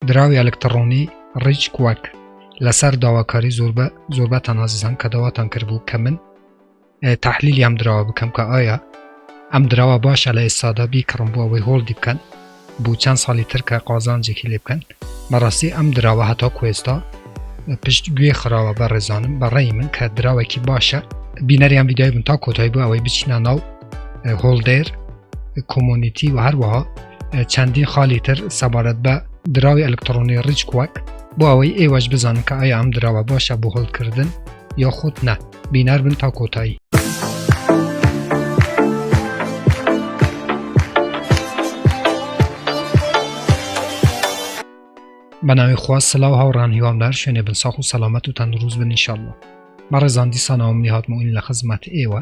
دراوی ئەلکتڕۆنی ڕیچ کوەک لەسەر داواکاری زۆربە زۆربەتان ئازیزان کە داواتان کردبوو کە من تحلیلی ئەم دراوە بکەم کە ئایا ئەم دراوە باشە لە ئێستادا بیکڕم بۆ ئەوەی هۆڵدی بکەن بوو چەند ساڵی ترکە قازانجێکی لێ بکەن بەڕاستی ئەم دراوە هەتا کوێستا پشت گوێ خراوە بە ڕێزانم بەڕێی من کە دراوێکی باشە بینەریان ویدای بن تا کۆتایی بۆ ئەوەی بچینە ناو هۆڵدێر کۆمۆنیتی و هەروەها چەندین خالی تر سەبارەت بە دراوی ئەلکترۆنی ڕیچ کوەک بۆ ئەوەی ئێوەش بزانن کە ئایا ئەم دراوە باشە بۆ هەڵکردن یا خۆت نە بینار بن تا کۆتایی بەناوی خوا سلااو هاوڕان هیوام لەر شوێنێ بن ساخ و سەلامەت و تەندروست بن نیشاءله مەڕێزان دیسانەوەم نیهاتمەوەین لە خزمەت ئێوە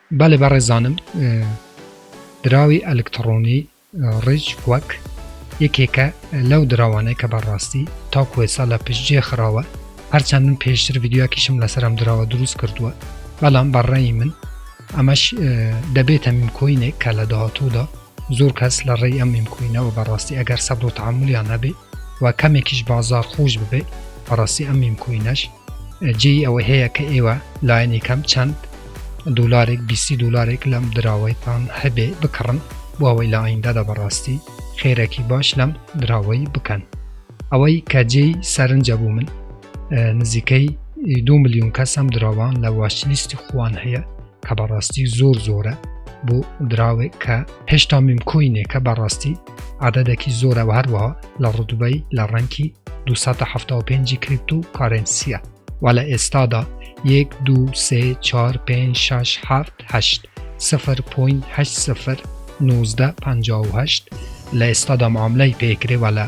بەڵێ بەڕێزانم دراوی ئەلکتڕۆنی ڕیچ وەک یەکێکە لەو دراوانەی کە بەڕاستی تاکو ئێسا لە پشتجێ خراوە هەرچەند من پێشتر ڤیددیوکیشم لەسەرم دراوە دروست کردووە بەڵام بەڕێی من ئەمەش دەبێتە میمکۆینێک کە لە داهاتوودا زۆر کەس لە ڕێی ئەم میمکوینەوە بەڕاستی ئەگەر سەبر و تەحەمولیان هەبێ و کەمێکیش بازار خوش ببێ بەڕاستی ئەم میمکوینەش جێی ئەوە هەیە کە ئێوە لایەنی کەم چەند دولارێک بیسی دولارێک لەم دراوەیتان هەبێ بکڕن بۆ ئەوەی لە ئایندەدا بەڕاستی خێرەکی باش لەم دراوەی بکەن ئەوەی کە جێی سەرنجە بوو من نزیکەی دو میلیۆن کەسم دراوان لە واشلیستی خوان هەیە کە بەڕاستی زۆر زۆرە بۆ دراوێک کە هێشتا میمکۆینێکە بەڕاستی عادەدەکی زۆرەوە هەروەها لە ڕدوبەی لە ڕەنکی 275 کریپت و کارنسیە و لە ئێستادا یەک دوو سێ چوار پێنج شەش حەفت هەشت سفر پۆین هەشت سفر نوزدە پەنجا و هەشت لە ئێستادا معاملەی پێکرێ و لە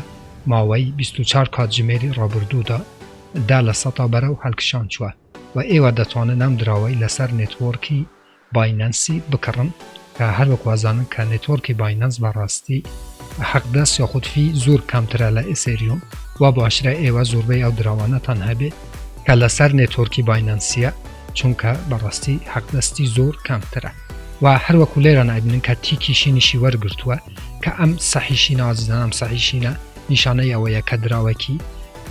ماوەی 24 کاتژمێری ڕابردوودا دا لە سەتا بەرەو هەلکشان چوە و ئێوە دەتوانن ئەم دراوەی لەسەر نێتوۆرکی باینەنسی بکڕن کە هەر وەک وازانن کە نێتۆرکی باینەنس بە ڕاستی حەق دەست یاخود فی زور کەمترە لە ئیسێریوم وا بۆ ئاشرای ئێوە زوربەی ئەو دراوانە تان هەبێ کە لە سەر نێتۆرکی باینەنسیە چونکە بە ڕاستی حەق دەستی زور کەمترە و هەر وەکو لێرە نایبنن کە تیکی شینیشی وەرگرتووە کە ئەم سەحیشی نازدانم سەحیشینە نیشانەی ئەوەیە کە دراوەکی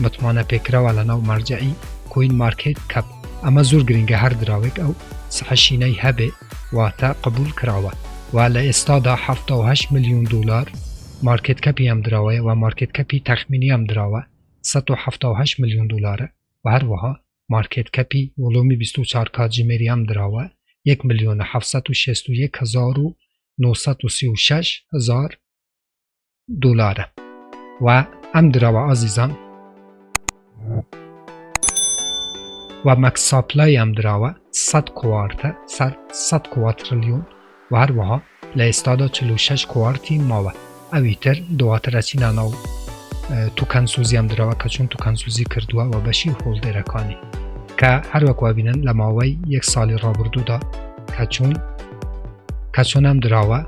متمانە پێکراوە لەناو مەرجەعی کۆین مارکێت کەپ ئەمە زۆر گرنگە هەر دراوێک ئەو سحە شینەی هەبێ واتە قبول کراوە و لە ئێستادا حەفتا و هەشت ملیون دۆلار مارکێت کەپی ئەم دراوەیە و مارکێت کەپی تەخمینی ئەم دراوە سەد و حەفتا و هەشت ملیون دۆلارە و هەروەها مارکێت کەپی وڵومی بیست و چوار کاتژمێری ئەم دراوە یەک ملیۆن و حەفت سەد و شەست و یەک هەزار و نۆ سەد و سی و شەش هەزار دولارە و ئەم دراوە ئازیزان و مەکس ساپلای ئەم دراوە سەد کوارتە سەر سەد کواترلیۆن و هەروەها لە ئێستادا چل و شەش کوارتی ماوە ئەوی تر دواتر ئەچینە ناو توکەن سوزی ئەم دراوە کە چون توکەن سوزی کردووە و بەشی هۆڵدێرەکانی کە هەروەک وابینن لە ماوەی یەک ساڵی ڕابردوودا کە چوون کەچۆن ئەم دراوە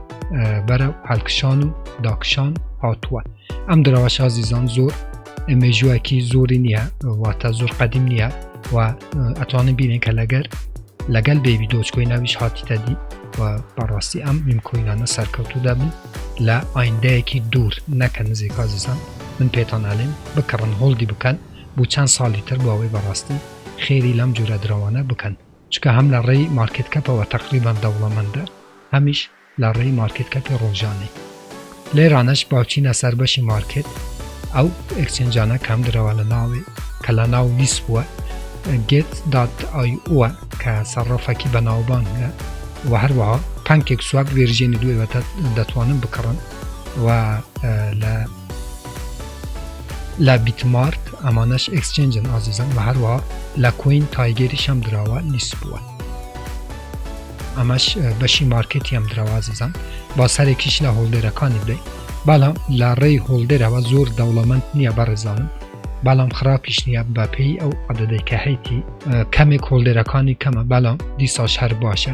بەرە هەلکشان و داکشان هاتووە ئەم دراوە شازیزان زۆر مێژووەکی زۆری نییە واتە زۆر قەدیم نییە و ئەتوانن بینێن کە لەگەر لەگەل بێبی دۆچکۆی ناویش هاتیتە دی و بەڕاستی ئەم میمکۆینانە سەرکەوتو دەبن لە ئایندەیەکی دوور نەکە نزیک کازیزان من پێتان ئەلێن بکڕن هۆڵدی بکەن بۆ چەند ساڵی تر بۆ ئەوەی بەڕاستی خێری لەم جورە درەوانە بکەن چونکە هەم لە ڕێی مارکێت کەپەوە تەقریبەن دەوڵەمەندە هەمیش لە ڕێی مارکێت کەپی ڕۆژانەی لێرانەش باچینە سەر بەشی مارکێت ئەو ئەکسچێنجانە کەم درەوە لە ناوێ کە لە ناو لیس بووە گێت دات ئای ئوە کە سەرڕەفەکی بەناوبان هەیە و هەروەها پانکێک سواب ڤێرژێنی دوێوەتە دەتوانن بکڕن و لە لە بیتمارت ئەمانەش ئێکسچێنجن ئازیزم وە هەروا لە کۆین تایگێریش هەم دراوە لیست بووە ئەمەش بەشی مارکتی هەم دراوە ئازیزم با سەرێکیش لە هۆڵدێرەکانی بێ بەڵام لە ڕێی هۆڵدێرەوە زۆر دەوڵەمەند نییە بەڕێزانم بەڵام خراپیش نییە بەپێی ئەو عددێکە هەیتی کەمێک هۆڵدێرەکانی کەمە بەڵام دیساش هەر باشە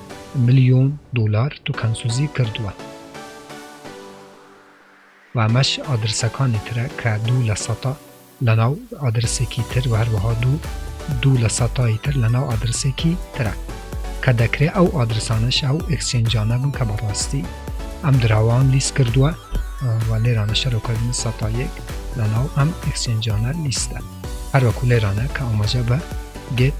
ملیۆن دۆلار توکانسوزی کردوە و ئەمەش ئادرسەکانی ترە کە دوو لە سەتا لە ناو ئادرسێکی تر و هەروەها دوو دوو لە سەتای تر لە ناو ئادرسێکی ترە کە دەکرێ ئەو ئادرسانەش ئەو ئکسچێنجانە بن کە بەڕاستی ئەم دراوان لیست کردوە و لێرانە شەرۆکردنی سەتا یەک لە ناو ئەم ئکسچێنجانە لیستە هەروەکو لێرانە کە ئاماژە بە گێت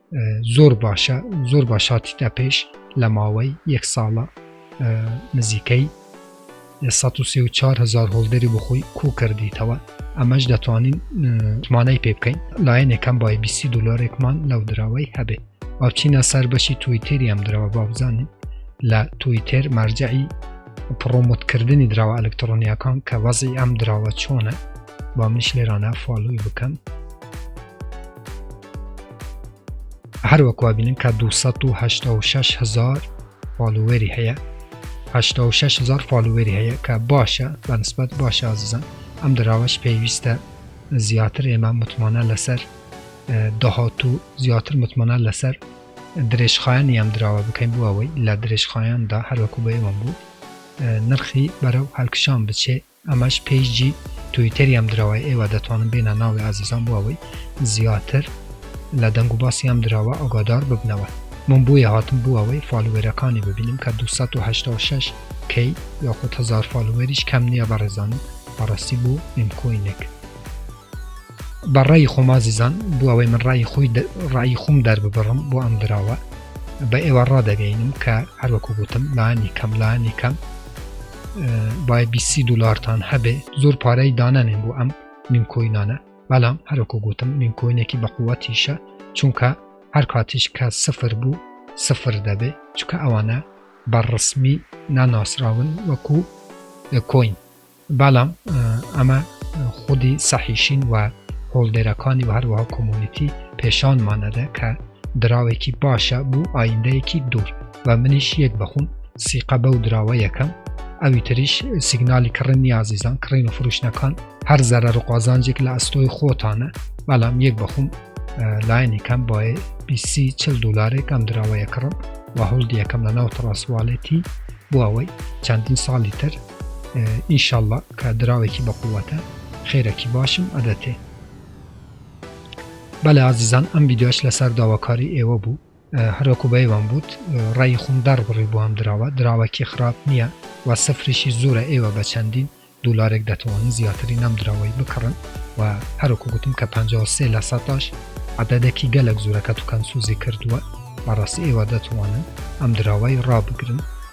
زۆر باشە زۆر باشاتیتە پێش لە ماوەی یەک ساڵە نزیکەی 1940هزار هۆڵدەری بخۆی کو کردیتەوە ئەمەش دەتوانین مانای پێ بکەین لایەنێکەم بای 20 دلارێکمان لەو دراوەی هەبێ باچینە سەر بەشی تویتێری ئەم درەوە بابزانین لە تویتێر مەرجعی پرۆمۆتکردنی دراوە ئەلکترۆنیەکان کە وەزی ئەم دراوە چۆنە با منش لێرانە فالوی بکەم هەروەک وابینن کە 286 هزار فالووەری هەیە 86 هزار فالووەری هەیە کە باشە بەنسبەت باش ئازیزان ئەم دراوەش پێویستە زیاتر ئێمە متمانە لەسەر داهات و زیاتر متمانە لەسەر درێژخایەن یام دراوە بکەین بووەوەی لە درێژخایەندا هەروەکو بە ئێوەم بوو نرخی بەرەو هەلکشان بچێت ئەمەش پەیجی تویتەری ئەم دراوەیە ئێوە دەتوانن بێنە ناوی ئازیزان بۆ ئەوەی زیاتر لە دەنگ و باسی ئەم دراوە ئاگادار ببنەوە من بۆیە هاتم بۆ ئەوەی فالوێرەکانی ببینم کە دوو سەد و هەشتا و شەش کەی یاخود هەزار فالوێریش کەم نیە بەڕێزانم بەڕاستی بۆ میم کوینێک. بە ڕای خۆمازیزان بۆ ئەوەی من ڕای خۆی ڕای خۆم دەرببڕم بۆ ئەم دراوە بە ئێوە ڕادەگەینم کە هەروەکو گوتم لانی کەم لانی کەم باید 20 دلارتان هەبێ زۆر پارەی دانانێن بۆ ئەم نیمکۆینانە بەڵام هەروەکو گوتم نیمکۆینێکی بەقوەتیشە چونکە هەر کاتیش کە سفر بوو سفر دەبێ چکە ئەوانە بە ڕسمی ناناسراون وەکو کۆین بەڵام ئەمە خودی سەحیشین و هۆڵدەرەکانی و هەروەها کۆمۆنیتی پێشانمان ئەدا کە دراوێکی باشە بۆ ئایندەیەکی دوور و منیش یەک بەخوم سیقە بەو دراوە یەکەم ئەوی تریش سیگنالی کڕنی ئازیزان کڕین و فروشنەکان هەر زەرە ڕقازانجێک لە ئەستۆی خۆتانە بەڵام یەک بەخوم لاینی کەم باێ بیسی چل دلارێک ئەم دراوەیە کڕم و هەڵدیەکەم لە ناو تڕاسوالێتی بۆ ئەوەی چەندین ساڵی تر ئیشەڵا کە دراوێکی بەقوەتە خێرەکی باشم ئەدەتێ بەلێ ئازیزان ئەم ویددیۆش لەسەر داواکاری ئێوە بوو هەروەکو بەیوان بوت ڕێی خۆم دەربڕی بۆ ئەم دراوە دراوەکی خراپ نییە و سفریشی زۆرە ئێوە بە چەندین دولارێک دەتوانن زیاتری نەم دراوەی بکڕن و هەروکو گوتم کە 53 لە سەتاش عددەکی گەلک زورەکە توکەن سوزی کردووە بەڕاستی ئێوە دەتوانن ئەم دراوای ڕابگرن